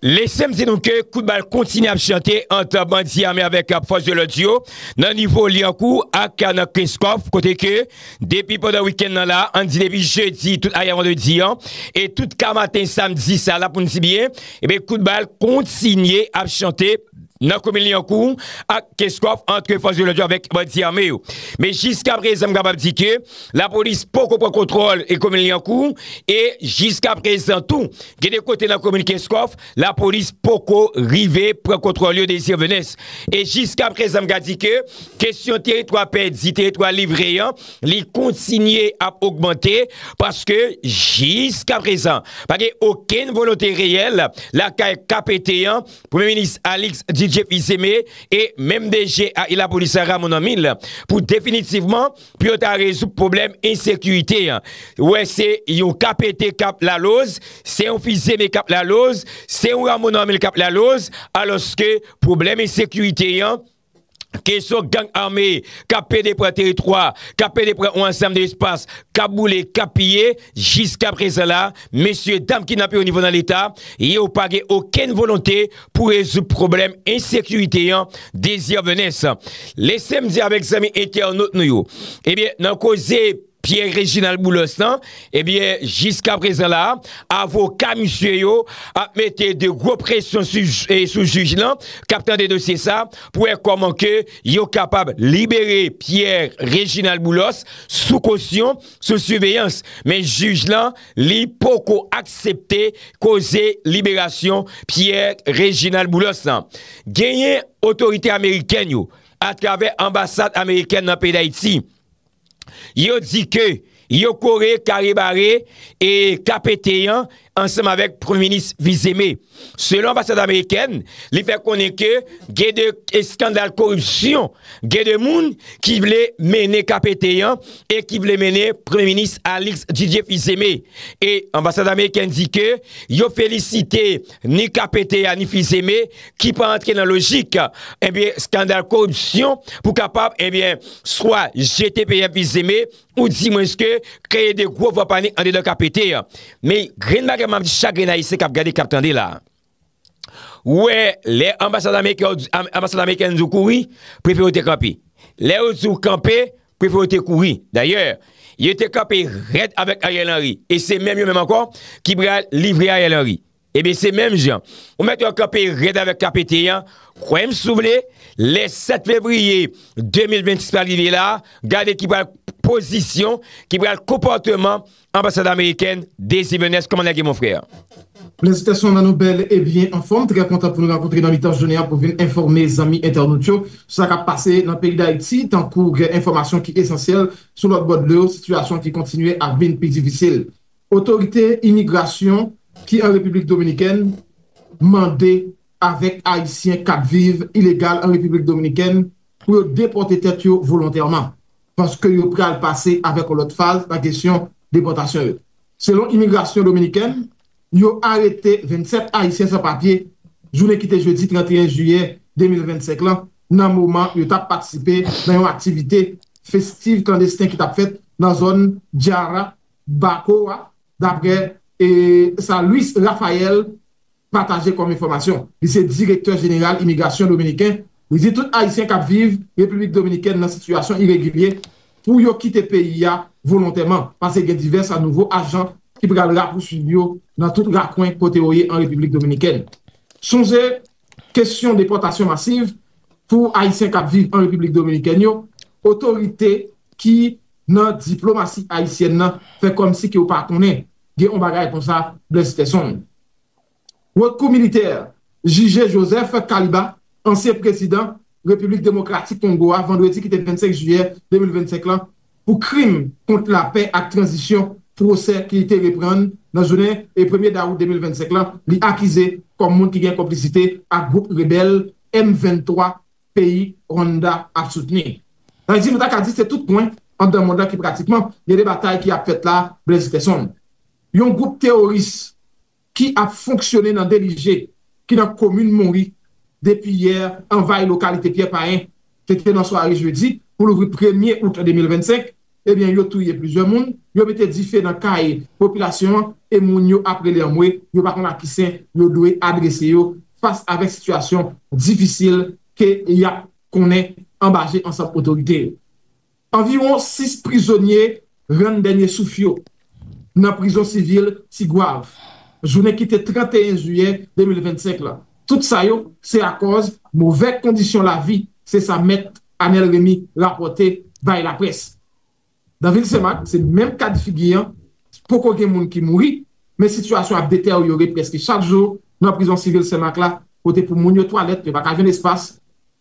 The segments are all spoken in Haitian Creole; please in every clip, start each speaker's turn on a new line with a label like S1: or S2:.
S1: Lesem di nou ke kout bal kontinye ap chante ant bandi ame avèk fòs de lòd yo nan nivo Lyankou ak nan Kreskòf kote ke depi pandan wikenn nan la, ann di depi jedi tout ayè vandredi an e tout ka maten samdi sa la pou n di byen, ebyen kout bal kontinye ap chante. nan komin Lyankou ak Kenscoff antre fòs de lòd yo avèk bandi ame yo. Men jiska prezan m kapab di ke lapolis poko pran kontwòl e komin Lyankou e jiska prezan tou gen de kote nan komin Kenscoff lapolis poko rive pran kontwòl yo Désir Venens. E jiska prezan m ka di ke kesyon teritwa pèdi, teritwa livre an li kontinye ap ogmante paske jiska prezan pa gen okenn volonte reyèl lakay KPT an Premye Minis Alix Didier Fils-Aimé e menm DG a Ilapolis la Raymond Amil pou definitivman pou yo ta rezoub pwoblèm ensekirite an. Wè se yon KPT k ap laloz, se yon Fils-Aimé k ap laloz, se yon Raymond Amil k ap laloz, alòske pwoblèm ensekirite an, Kesyon gang ame k ap pede pran teritwa, k ap pede pran yon ansanm de espas, k ap boule, k ap piye, jiskaprezan la, mesye dam ki nan pi wo nivo nan Leta, yo pa gen okenn volonte pou rezoud pwoblèm ensekirite an dezyèvènes. Lese m di avèk zanmi entènot nou yo, ebyen nan koze. Pierre Reginald Boulos lan, ebyen jiska prezan la, avoka misye yo ap mete de gwo presyon sou jij lan kap tande dosye sa pou wè kòman ke yo kapab libere Pierre Reginald Boulos sou kosyon, sou siveyans. Men jij lan, li poko aksepte koze liberasyon Pierre Reginald Boulos lan. Genyen otorite amerikèn yo, atravè anbasad amerikèn nan peyi Dayiti, Yo di ke yo kore kare bare e KPT an ansanm avèk Premye Minis Fils-Aimé. Selon anbasad amerikèn, li fè konnen ke gen de eskandal koripsyon, gen de moun ki vle mennen KPT an e ki vle mennen Premye Minis Alix Didier Fils-Aimé. E anbasad amerikèn di ke yo felisite Ni KPT a ni Fils-Aimé ki pa antre nan lojik ebyen eh skandal koripsyon pou kapab ebyen eh swa jete PM Fils-Aimé ou di mwens ke kreye de gwo vwa panik andedan KPT. Men grenn bagay map di chak grenn Ayisyen kap gade kap tande la. Ou wè lè anbasad ameriken anbasad ameriken di w kouri prefere w te kanpe. Lè yo di w kanpe Prefe yo te kouri. Dayè, yo te kanpe rèd avèk Ariel Henry. E se menm yo menm ankò ki pral livre Ariel Henry. Ebyen se menm jan. Ou mèt wè kanpe rèd avèk KPT an, kwè m si w vle, lè 7 fevriye 2026 pral rive la, gade ki pral pozisyon, ki pral konpòteman Anbasad amerikèn Dave Sivennès kòman nèg ye mon frère? Felisitasyon
S2: nan nou bèl e byen anfòm, trè kontan pou nou rankontre nan mitan jounen an pou vin enfòme zanmi entènot yo sou sa kap pase nan peyi Dayiti tankou gen enfòmasyon ki esansyèl sou lòt bò dlo sitiyasyon ki kontinye ap vin pi difisil otorite imigrasyon ki an Repiblik Dominikèn mande avèk ayisyen kap viv ilegal an Repiblik Dominikèn pou yo depòte tèt yo volontèman. paske yo pral pase avèk yon lòt faz nan kesyon depòtasyon yo. Selon imigrasyon dominikèn, yo arete 27 ayisyen san papye jounen ki te jedi 31 jiyè 2025 lan nan moman yo t ap patisipe nan yon aktivite festiv klandesten ki t ap fèt nan zòn Jarabacoa, daprè sa Luis Rafael, pataje kòm enfòmasyon. Li se direktè jeneral imigrasyon dominiken. Li di tout ayisyen k ap viv Repiblik Dominikèn nan sitiyasyon iregilye pou yo kite peyi a volontèman, pase gen divès nouvo ajan ki pral rapousuiv yo nan tout rakwen kote yo ye an Repiblik Dominikèn. Sonje kesyon depòtasyon masiv pou ayisyen k ap viv an Repiblik Dominikèn yo, otorite ki nan diplomasi ayisyèn nan fè kòmsi ke yo pa konnen gen yon bagay konsa Blaise Steson. Haute Cour militaire jije Joseph Kaliba, ansyen prezidan Repiblik Demokratik Kongo a vandredi ki te 25 jiyè 2025 lan pou krim kont lapè ak tranzisyon, pwosè ki te reprann nan jounen premye dawout 2025 lan li akize kòm moun ki gen konplisite ak gwoup rebèl M23 peyi Rwanda ap soutni. Ayiti nou ta ka di se tout kwen anndan mond lan ki pratikman gen 2 batay ki ap fèt la, Blaise Peson. Yon gwoup teworis ki ap fonksyone nan Delije ki nan komin Monri depi yè anvayi lokalite Pyè Payen te te nan sware jedi pou louvri premye out 2025, ebyen yo touye plizyè moun, yo mete dife nan kay popilasyon an e moun yo ap rele anmwe yo pa konn a ki sen yo dwe adrese yo fas avèk sitiyasyon difisil ke yap konnen anba je ansanm otorite yo. Anviwon 6 prizonye rann dènye souf yo nan prizon sivil Ti Gwav jounen ki te 31 jiyè 2025 la. Tout sa yo se akòz movè kondisyon lavi, se sa mèt Anel Remy rapòte bay laprès. Nan vil Senmak, se menm ka de figi an, poko gen moun ki mouri, men sitiyasyon ap deteryore prèske chak jou nan prizon sivil Senmak la kote pou moun yo twalèt, yo pa ka jwenn espas.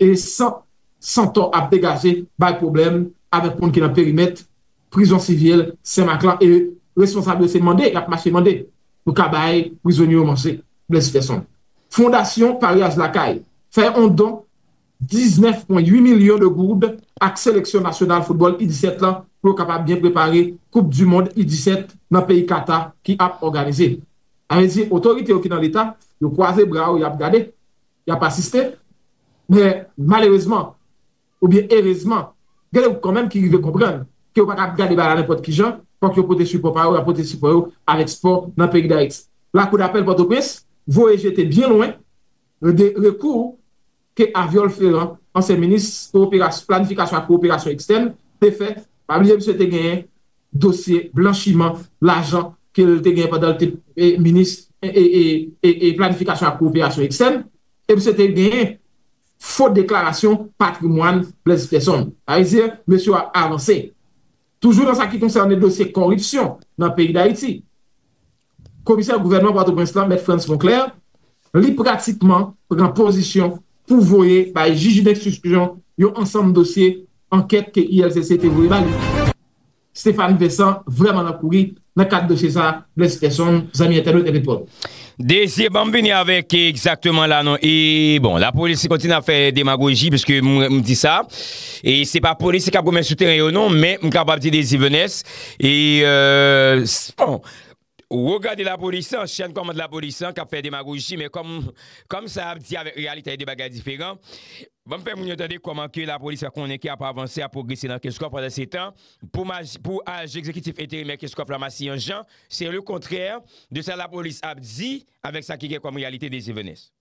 S2: e san santò ap degaje bay pwoblèm avèk moun ki nan perimèt prizon sivil Senmak lan e responsab yo se mande y ap mache mande pou ka bay prizonye yo manje Blaise Ferson Fondasyon Paryaj Lakay fè on don 19,8 milyon de goud ak seleksyon nasyonal foutbòl U17 lan pou yo kapab byen prepare koup du mond U17 nan peyi Kata ki ap òganize Sa vle di otorite yo ki nan leta yo kwaze bra yo y ap gade. y ap asiste, men malerezman oubyen erezman gen yon gwoup kanmenm ki rive konprann ke yo pa kab gade bagay la nenpòt kijan, fòk yo pote sipò pa yo, y ap pote sipò yo avèk spò nan peyi Dayiti. Lakou dapèl Pòtoprens voye jete byen lwen de rekou ke Aviol Ferrand, ansyen minis Planifikasyon ak Kowoperasyon Ekstèn, te fè, pa bliye misye te genyen. dosye blanchiman lajan ke l te gen pandan l te minis planifikasyon ak koperasyon ekstèn, e misye te gen fo deklarasyon patrimwàn Blaise Peson. Sa vle di, mesye yo ap avanse. Toujou nan sa ki konsène dosye koripsyon nan peyi Dayiti. Komisè gouvènman Pòtoprens lan, Mèt Frantz Monclè, li pratikman pran pozisyon pou voye bay jij denstriksyon yon ansanm dosye ankèt ke ILCC te voye ba li. Stéphane Vincent vrèman nan kouri nan kad dosye sa, Blaise Persson, zanmi entènot epi Paul. Desir banm
S1: vini avèk egzakteman la non e bon lapolis kontinye ap fè demagoji piske m di sa e se pa polis kap goumen sou teren yo non men m kapab di Désir Venès e bon Woo gade lapolis lan, chen kòmand lapolis lan kap fè demagoji men kòm kòm sa yap di avèk reyalite a 2 bagay diferan. Banm fè moun yo tande kòman ke lapolis la konnen ke ap avanse ap pwogrese nan Keskòf pandan se tan pou maj pou aj egzekitif enterimè Keskòf la masi yon jan se le kontrè de sa lapolis ap di avèk sa ki gen kòm reyalite Desievenes.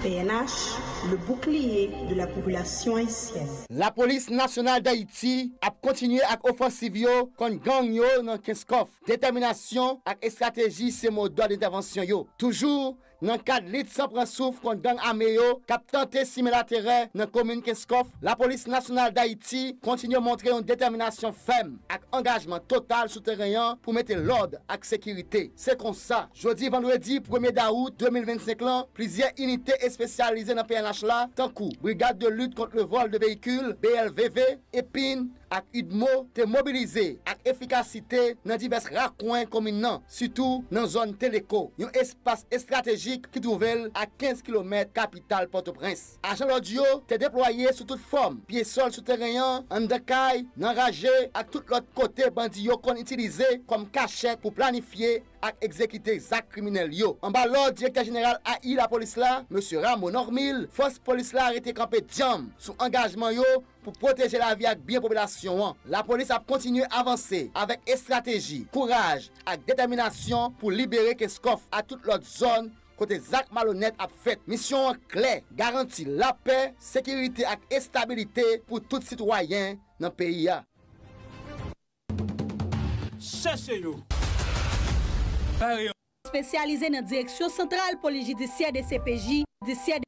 S3: Pnh, le bouclier de la population haïtienne. Lapolis
S4: Nasyonal Dayiti ap kontinye ak ofansiv yo kont gang yo nan Kenskòf. Detèminasyon ak estrateji se modòd entèvansyon yo. Toujou Nan kad lit san pran souf kont gang ame yo k ap tante simen laterè nan komin Kenskòf, Lapolis Nasyonal Dayiti kontinye montre yon detèminasyon fèm ak angajman total sou teren an pou mete lòd ak sekirite. Se konsa, jodi vandredi premye dawout 2025 lan, plizyè inite espesyalize nan pnh la, tankou Brigade de lutte contre le vol de véhicules, BLVV, epin, ak udmo te mobilize ak efikasite nan divès rakwen komin nan, sitou nan zòn Teleko, yon espas estratejik ki twouve l a 15 kilomèt kapital Pòtoprens. Ajan lòd yo te deplwaye sou tout fòm, pye sòl sou teren an, anndan kay, nan raje ak tout lòt kote bandi yo konn itilize kòm kachèt pou planifye ak egzekite zak kriminèl yo. Anba lòd direktè jeneral AI lapolis la, Mesye Rameau Normil, fòs polis la rete kanpe dyanm sou angajman yo Pou pwoteje lavi ak byen popilasyon an, lapolis ap kontinye avanse avèk estrateji, kouraj ak detèminasyon pou libere Kenskòf ak tout lòt zòn kote zak malonèt ap fèt. Misyon an klè, garanti lapè, sekirite ak estabilite pou tout sitwayen nan peyi a.
S5: Chèche yo! Bare
S6: yo! Espesyalize nan Direksyon Santral Polis Jidisyè, dcpj, Disyè,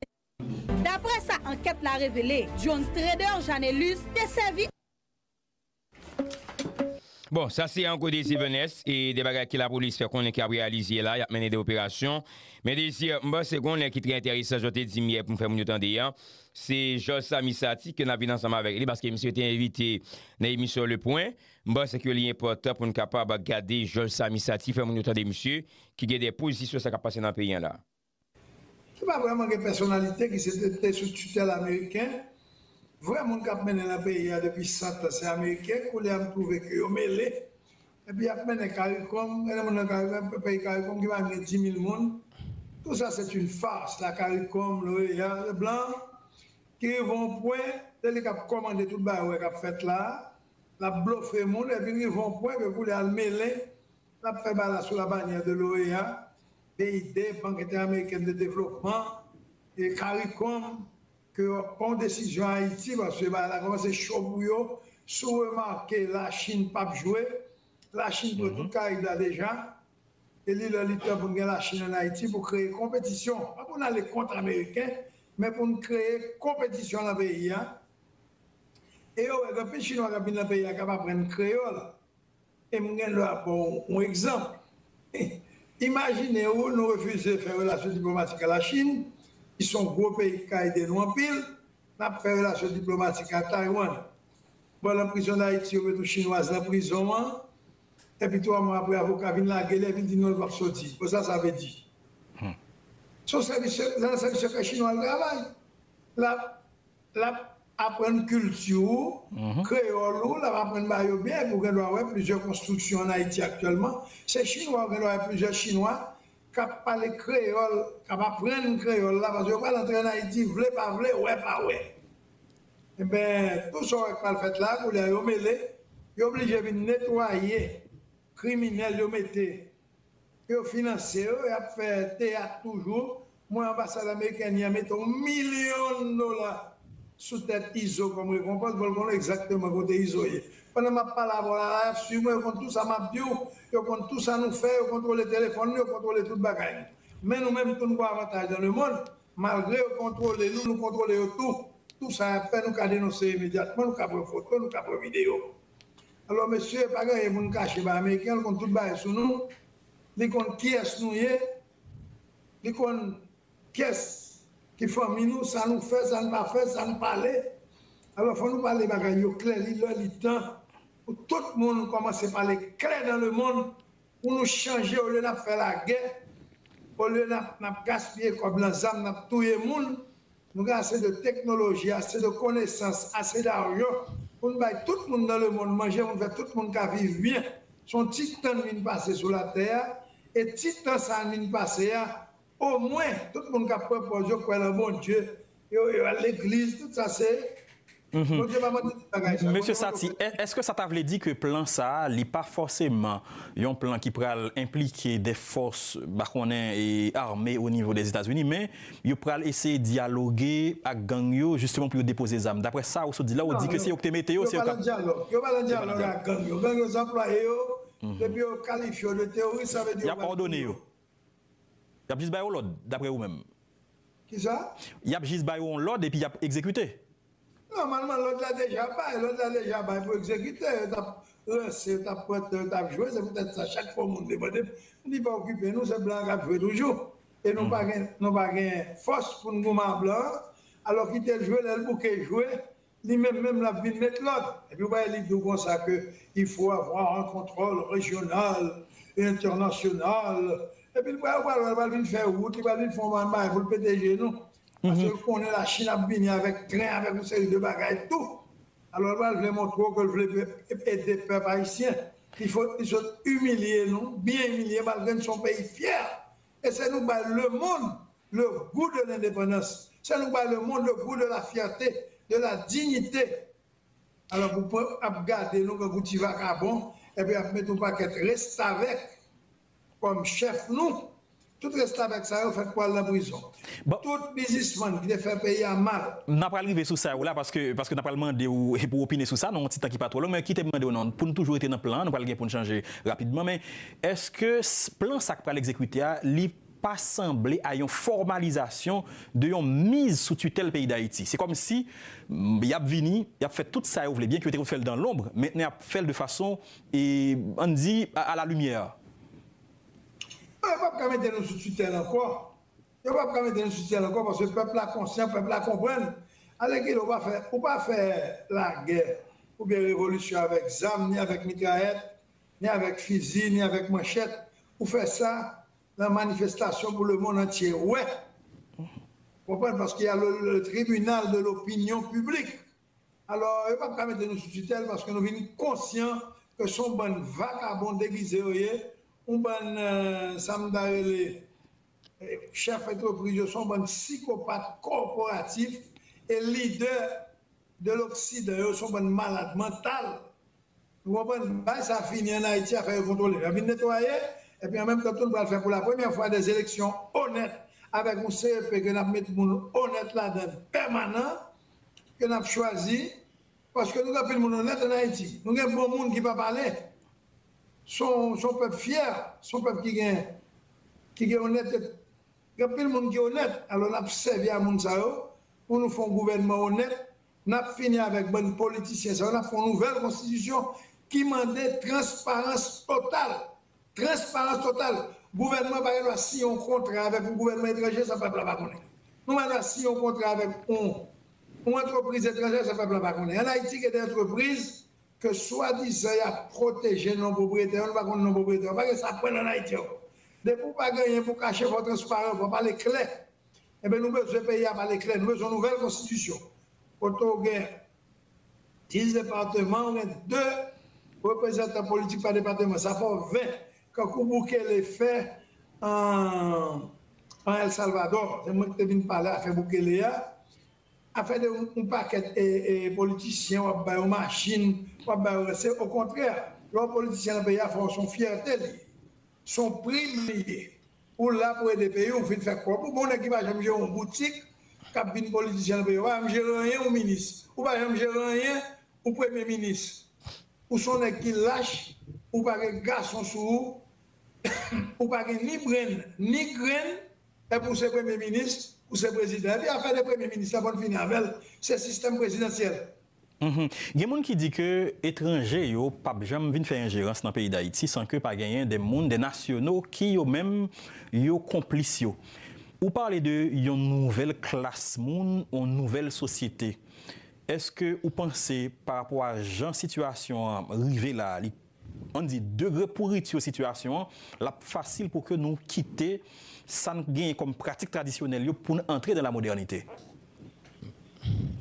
S6: Daprè sa ankèt la revele, Jones Trader Janelus te sèvi.
S1: Bon, sa se Ango Désir Venès e de bagay ke lapolis fè konnen ke ap reyalizye la, yap mennen de operasyon. Men Désir, m panse gen yon nèg ki trè entèresan jan w te di m yè pou m fè moun yo tande an, se Jòj Samy Saty ke nap vin ansanm avèk li paske misye te envite nan emisyon Le Point. M panse ke li enpòtan pou n kapab gade Jòj Samy Saty fè moun yo tande misye ki gen de pozisyon sa kap pase nan peyi an la. Ki pa
S7: vrèman gen pèsonalite ki se te te sou titèl ameriken, vrè moun kap mennen nan peyi a depi 100 tan se ameriken, koulye a m twouve ke yo mele, epi yap mennen karikom, mennen moun nan karikom, yon peyi karikom ki pa menm gen 10.000 moun, tou sa se yn fars, la karikom, l'OEA, le blan ki rive yon pwen se li kap komande tout bagay ou wè kap fèt la, lap blofe moun epi rive yon pwen ke koulye a l mele N ap fè bala sou la banyè de l'OEA, BID, Bank Entè-Amerikèn de Devlopman, e caricom ke yo ap pran yon desizyon Ayiti paske bagay la kòmanse cho pou yo. Si w remake Lachin pap jwe, Lachin pran tout Karayib la deja e li lè li tan pou n gen Lachin an Ayiti pou kreye konpetisyon, pa pou n ale kont Ameriken men pou n kreye konpetisyon nan peyi a. E yo wè gen anpil Chinwa k ap vin nan peyi a k ap aprann kreyòl. E m gen dwa ba w yon egzanp. Imajine ou nou refize fè relasyon diplomatik a Lachin, ki se yon gwo peyi ki ka ede nou anpil, n ap fè relasyon diplomatik a Taywann. Bon, nan prizon Dayiti, yo met yon Chinwaz nan prizon an, epi twa mwa apre avoka vin lage l, epi l di non, l pap soti. Bon, sa sa vle di? Se yon sèvis sekrè, se nan sèvis sekrè Chinwa l travay la. L ap aprann kilti ou, kreyòl ou, l ap aprann ba yo byen epi ou gen dwa wè plizyè konstriksyon ann Ayiti aktyèlman. Se chinwa ou gen dwa wè plizyè chinwa k ap pale kreyòl, k ap aprann kreyòl la paske yo pral antre ann Ayiti vle pa vle, wè pa wè. Enben, tou sa w wè k pral fèt la, koulye a yo mele, yo blije vin netwaye kriminèl yo mete Yo finanse yo, yap fè teyat toujou, mwen anbasad amerikèn yan mete yon milyon dola sou tèt Izo kòm rekonpans pou l konnen egzakteman kote Izo ye. Pandan map pale avè w la, la yap swiv mwen, yo konn tou sa map di w, yo konn tou sa nou fè, yo kontwole telefòn nou, yo kontwole tout bagay nou. Men nou menm tou nou gon avantaj dan le mond, malgre yo kontwole nou, nou kontwole yo tou. Tou sa yap fè nou ka denonse imedyatman, nou ka pran foto, nou ka pran videyo. Alò mesye pa gen anyen pou nou kache bay ameriken, li konn tout bagay sou nou, li konn kiyès nou ye, li konn kiyès ki fanmi nou, sa nou fè, sa nou pa fè, sa nou pale. Alò fò nou pale bagay yo klè, li lè li tan pou tout moun kòmanse pale klè dan lemonn Pou nou chanje olye nap fè lagè olye nap gaspiye kòb nan zam nap touye moun nou gen ase de teknoloji ase de konesans ase darjo poun bay tout moun nan lemond manje poun fè tout moun ka viv byen son ti tan n vin pase sou latè a e ti tan sa n vin pase a O mwen tout moun kap kwè pò yo kwè lan Bondye yo yo al legliz tout sa se Bondye pa mande tout bagay sa.
S8: Mesye Satie, èske sa ta vle di ke plan sa a li pa fòseman yon plan ki pral enplike de fòs ba konnen e ame o nivo Dèzetazini men yo pral eseye dyaloge ak gang yo jisteman pou yo depoze zam? Dapre sa ou sot di la ou di ke se yo ki te mete yo se yo kap. Yo pa lan
S7: dyalòg ak gang yo. Gang yo zanplwaye yo epi yo kalifye yo de teworis sa vle di yo pral touye yo.
S8: Yap jis ba yo lòd, daprè ou menm. Kisa?
S7: Yap jis ba yo yon
S8: lòd epi yap egzekite. Nòmalman
S7: lòd la deja bay, lòd la deja bay pou egzekite, yo tap ranse, yo tap pran tan, yo tap jwe, se poutèt sa chak fwa yon moun debòde, m di pa okipe nou, se blan an kap jwe toujou, e nou pa gen, nou pa gen fòs pou n goumen a blan an, alò kite l jwe, lè l bouke jwe, Li menm menm lap vin met lòd epi ou bay li do konsa ke il faut avoir un contrôle régional et international epi li pral wè lè li pral vin fè wout li pral vin fon bann bagay poul pete je nou paskel konnen la chine ap vini avèk tren avèk yon seri de bagay tou alò li pral vle montre w ke li vle ede pèp ayisyen il faut li sot imilye nou byen imilye malgre nou son peyi fyè e se nou k bay le monde Le goût de l'indépendance se nou bay le monde le goût de la fierté, de la dignité alò pou pèp ap gade nou tankou ti vakabon epi ap met yon pakèt restavèk kòm chèf nou, tout restavèk sa yo fèt pou al nan prizon. Tout bizismann ki te fè peyi a mal. Nan pral rive sou sa yo
S8: la paske paske nan pral mande ou pou w opine sou sa nan yon ti tan ki pa twò long men kite m mande w nan pou n toujou rete nan plan an nou pral gen pou n chanje rapidman men èske plan sa k pral egzekite a li pa sanble a yon fòmalizasyon de yon miz sou titèl peyi Dayiti. Se kòm si y ap vini, y ap fè tout sa yo vle, byen ke yo te konn fè l dan lonbr, mentnen y ap fè l de fason, an n di, a la limyè. Non,
S7: yo pap ka mete nou sou titèl ankò. Yo pap ka mete nou sou titèl ankò paske pèp la konsyan, pèp la konprann. Alèkile, ou pa fè, ou pa fè lagè oubyen revolisyon avèk zam, ni avèk mitrayèt, ni avèk fizi, ni avèk manchèt. Ou fè sa nan manifestasyon pou le mond antye wè konprann paske ya le tribinal de lopinyon piblik alò yo pap ka mete nou sou titèl paske nou vin konsyan ke son bann vakabon degize yo ye yon bann sam ta rele chèf antrepriz yo son bann sikopat kòporatif e lidè de loksidan yo son bann malad mantal Nou konprann bagay sa fini an Ayiti afè yo kontwole yo ap vin netwaye epi an menm tan tou nou pral fè pou la premyè fwa dè eleksyon onèt avèk yon CEP ke nap met moun onèt ladan l pèmanan ke nap chwazi paske nou gen anpil moun onèt an Ayiti nou gen bon moun ki pa pale son son pèp fyè son pèp ki gen ki gen onète gen anpil moun ki onèt alò nap sèvi a moun sa yo pou nou fon gouvènman onèt Nap fini avèk bann politisyen sa yo nap fè yon nouvèl konstitisyon ki mande transparans total transparans total gouvènman pa gen dwa siyen yon kontra avèk yon gouvènman etranje san pèp la pa konnen nou pa gen dwa siyen yon kontra avèk yon yon antrepriz etranjè san pèp la pa konnen an ayiti gen de antrepriz ke swadizan yap pwoteje non pwopriyetè yo nou pa konnen non pwopriyetè yo pa gen sa pwèl an ayiti ankò depi ou pa genyen pou kache fòw transparan fòw pale klè. Enben nou bezwen peyi a pale klè, nou bezwen yon nouvèl konstitisyon kote w gen 10 depateman, w gen 2 reprezantan politik pa depateman, sa fè w 20 kankou Bukele fè an El Salvadò, se mwen ki te vin pale afè Bukele a, afè de yon pakèt politisyen w ap ba yo machin, w ap ba yo, se okontrè lè w politisyen nan peyi a fè w se yon fyète li ye. Son prim li ye. Ou la pou ede peyi w vin fè kòb ou bon nèg ki pa janm jere yon boutik kap vin politisyen nan peyi a ou pa janm jere anyen ou minis ou pa janm jere anyen ou premye minis ou son nèg ki lach ou pa gen gason sou ou ou pa gen ni brenn ni grenn epi ou se premye minis ou se prezidan epi afè de premye minis la fò n fini avèl se sistèm prezidansyèl
S8: Gen moun ki di ke etranje yo pap janm vin fè enjerans nan peyi Dayiti san ke pa genyen de moun, de nasyono ki yo menm yo konplis yo. Ou pale de yon nouvèl klas moun, yon nouvèl sosyete. Eske ou panse pa rapò a jan sitiyasyon an rive la, li an di degre pouriti sitiyasyon an, l ap fasil pou ke nou kite sa n genyen kòm pratik tradisyonèl yo pou n antre nan lamodènite.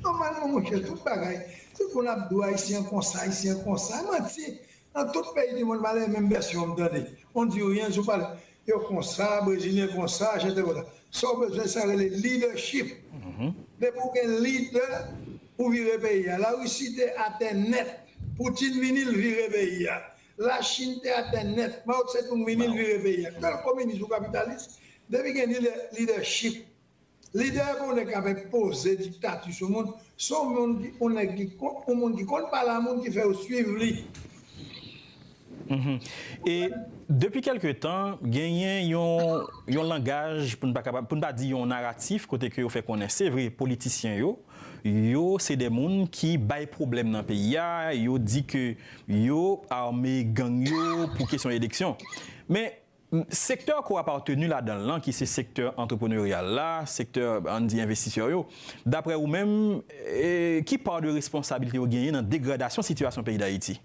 S7: Nòmalman monchè, tout bagay, se pou n ap di w Ayisyen an konsa, Ayisyen an konsa. Manti! Nan tout peyi dimonn, malè e menm vèsyon m tande. On dit rien, jou pale. Yo konsa, brezilyen konsa, Arjanten konsa. Sa w bezwen sa rele leadership. Depi w gen leader ou vire peyi a. Larisi te atè nèt. Poutine vini l vire peyi a. Lachin te atè nèt. Mao Tse-tung vini l vire peyi a. Ke l kominis ou kapitalis, depi gen leadership Lide pou yon nèg k ap enpoze diktati sou moun, se yon moun ki yon nèg ki konn yon moun ki konn pale a moun ki fè yo swiv li.
S8: E depi kèlke tan genyen yon yon langaj pou n pa kapab pou n pa di yon naratif kote ke yo fè konnen se vre politisyen yo yo se de moun ki bay pwoblèm nan peyi a, yo di ke yo ame gang yo pou kesyon eleksyon men Sektè ke w ap apateni ladan l lan ki se sektè antrepreneryal la, sektè an n di envestisè yo, daprè ou menm, ki pa de responsabilite yo genyen nan degradasyon sitiyasyon peyi Dayiti?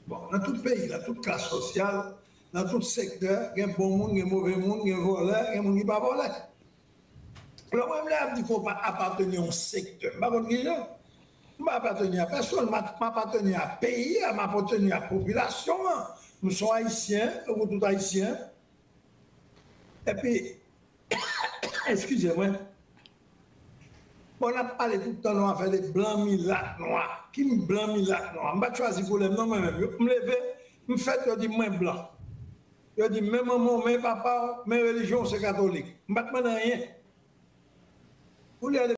S8: Bon, nan
S7: tout peyi, nan tout klas sosyal, nan tout sektè, gen bon moun, gen move moun, gen vòlè, gen moun ki pa vòlè. Lè mwen vle avni konpa apateni a yon sektè, m pa konn ki jan, m pa apateni a pèsonn, m apateni a peyi a, m apateni a popilasyon an, m son ayisyen tankou tout ayisyen, epi eskize mwen, bon n ap pale tout tan nou afè de blan, milat, nwa, ki m blan, milat, nwa, m pa t chwazi koulè m non mwen menm, m leve, m fèt yo di m mwen blan. Yo di men manman w men papa w men relijyon w se katolik. M pa t mande anyen. Koulye a.